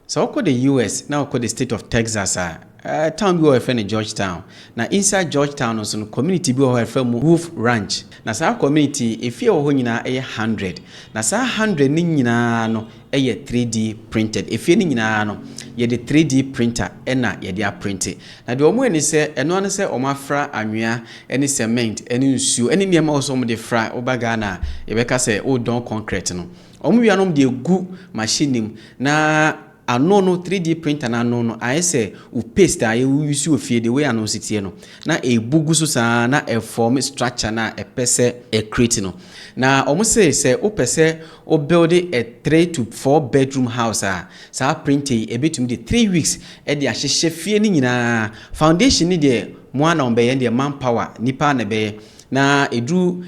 Sɛ wokɔ the US na wokɔ the state of Texas a, eh, town bi wɔ hɔ yɛfrɛ no Georgetown. Na inside Georgetown no nso no, community bi wɔ hɔ yɛfrɛ mu Wolf Ranch. Na saa community yi, efie wɔ hɔ nyinaa yɛ hundred. Na saa hundred no nyinaa no yɛ 3D printed. Efie no nyinaa no, yɛde 3D printer na yɛde aprinte. Na deɛ wɔyɛ ne sɛ, ɛno ara ne sɛ wɔafra anwea ne cement ne nsuo ne nneɛma a ɛwɔ sɛ wɔde fra. Woba Ghana a, yɛbɛka sɛ woredɔn concrete no, Wɔn wia nom deɛ gu machine no mu na ano no 3D printer no ano no ayɛ sɛ wo paste a yɛwo use wɔ fie the way ano nsi teɛ no na ɛbu gu so saa na ɛform structure no a ɛpɛ sɛ ɛ create no na wɔn se sɛ wopɛ sɛ wo build a 3 to 4 bedroom house a saa printer yi ɛbɛtumi de 3 weeks ɛde ahyehyɛ fie no nyinaa foundation no deɛ mo a na wɔn bɛyɛ deɛ manpower nipa na ɛbɛyɛ Na ɛduru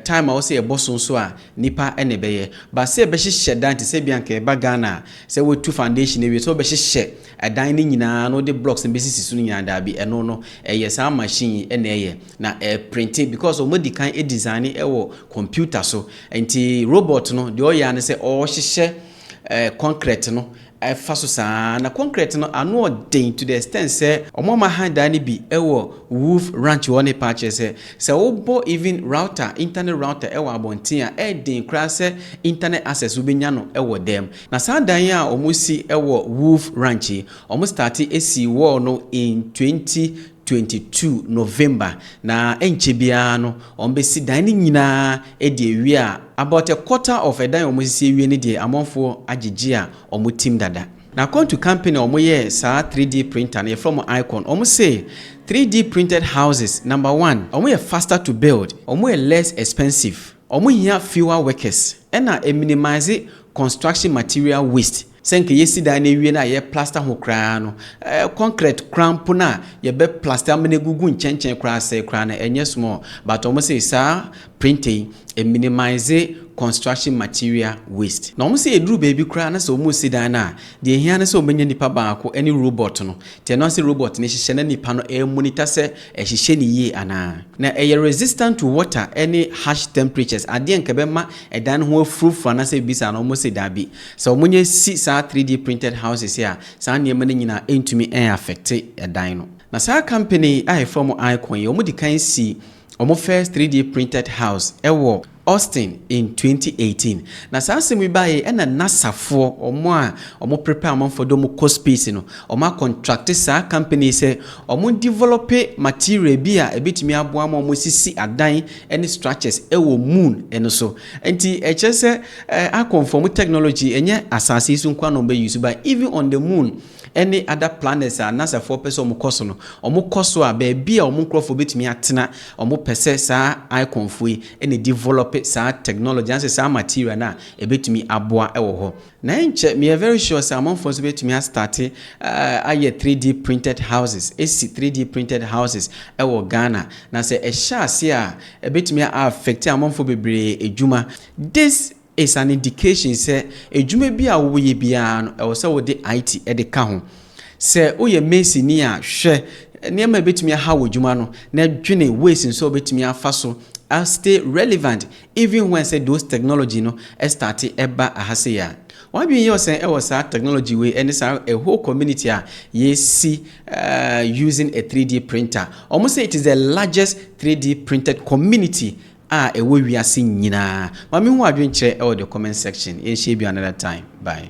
time a wɔsɛ yɛbɔ so nso a, nnipa na ɛbɛyɛ. But sɛ yɛbɛhyehyɛ dan te sɛ ebi a nka yɛba Ghana a, sɛ wɔatu foundation awie, sɛ wobɛhyehyɛ dan no nyinaa na wode blocks no bɛsisi so no nyinaa, daabi, ɛno no, ɛyɛ saa machine yi na ɛyɛ. Na ɛreprinte because wɔadi kan adesigne wɔ computer so. Nti robot no, deɛ ɔyɛ ara ne sɛ ɔhyehyɛ concrete no ɛfa so saa ara, na kɔnkrɛt no ano yɛ den to the extent sɛ wɔama han dan no bi wɔ Wolf Ranch hɔ ne paa kyerɛ sɛ, sɛ wobɔ even router, internet router wɔ abɔnten a, ɛyɛ den koraa sɛ internet access wobɛnya no wɔ dan mu. Na saa dan yi a wɔsi wɔ Wolf Ranch yi, wɔstartee sii wall no in 20. twenty two November na ɛnkyɛ biara no wɔbɛsi dan no nyinaa adi awie a about a quarter of ɛdan a wɔsisi awie no deɛ amanfoɔ agyegye a wɔtim dada. Na according to company a wɔyɛɛ saa three D printer no yɛfrɛ wɔn Icon wɔn se three D printed houses number one wɔn yɛ faster to build, wɔn yɛ less expensive, wɔn hia fewer workers ɛna ɛminimise construction material waste. Sɛ nka yɛsi dan no awie no a yɛ plaster ho koraa no, concrete koraa mpo no a yɛbɛ plaster ama no agugu nkyɛnkyɛn koraa asɛe koraa no ɛnyɛ small but wɔn se saa printer yi ɛ minimize construction material waste. Na wɔn se ɛduru baabi koraa na sɛ wɔn resi dan no a deɛ ɛhia ne sɛ wɔn bɛnya nipa baako ɛne robot no nti ɛno ara sɛ robot no hyehyɛ na nipa no ɛ monitor sɛ ɛhyehyɛ no yie anaa. Na ɛyɛ resistant to water ɛne harsh temperatures adeɛ a nka ɛbɛma ɛdan no ho afurofuro anaasɛ biribi saa no wɔn se daabi. Sɛ wɔnya si saa 3D printed houses yi a, saa nneɛma no nyina ntumi affecte ɛdan no. Na saa company yi a yɛfrɛ wɔn Icon yi, wɔdi kan si wɔn first 3D printed house wɔ Austin in 2018. Na saa asɛm yi baeɛ yi, ɛna NASA foɔ, wɔn a wɔn prepare amanfoɔ de wɔn kɔ space no, wɔn a contracte saa company yi sɛ wɔn develope material bi a ɛbɛtumi aboa ma wɔn asisi adan ne structures wɔ moon no so. Nti ɛkyerɛ sɛ akɔmfo ɔmo technology ɛnyɛ asaase yi so nkoa na ɔmo bɛ use but even on the moon ɛne other planets a nasa foɔ pɛ sɛ ɔmo kɔ so no ɔmo kɔ so a baabi a ɔmo nkorɔfoɔ bɛtumi atena ɔmo pɛ sɛ saa akɔmfo yi na develop saa technology anaasɛ saa material no a ɛbɛtumi aboa ɛwɔ hɔ. Na ɛnkyɛ meyɛ very sure sɛ amanfoɔ nso bɛtumi a starte ayɛ 3D printed houses, ɛsi 3D printed houses wɔ Ghana. Na sɛ ɛhyɛ aseɛ a, ɛbɛtumi a affect amanfoɔ bebree adwuma. This is an indication sɛ adwuma bi a woyɛ biara no ɛwɔ sɛ wode IT de ka ho. Sɛ woyɛ mason ni a, hwɛ nneɛma a ɛbɛtumi aha w'adwuma no na dwene ways nso a wobɛtumi afa so a stay relevant Even when sɛ those technology no starte ɛba aha sei a, w'adwene yɛ ɔsɛn ɛwɔ saa technology wei ɛne saa a whole community a yɛsi using a 3D printer. Wɔn sɛ it is the largest 3D printed community a ɛwɔ wiase nyinaa. Ma me hu w'adwene kyerɛ ɛwɔ the comment section. Yɛn hyia bi another time. Bye.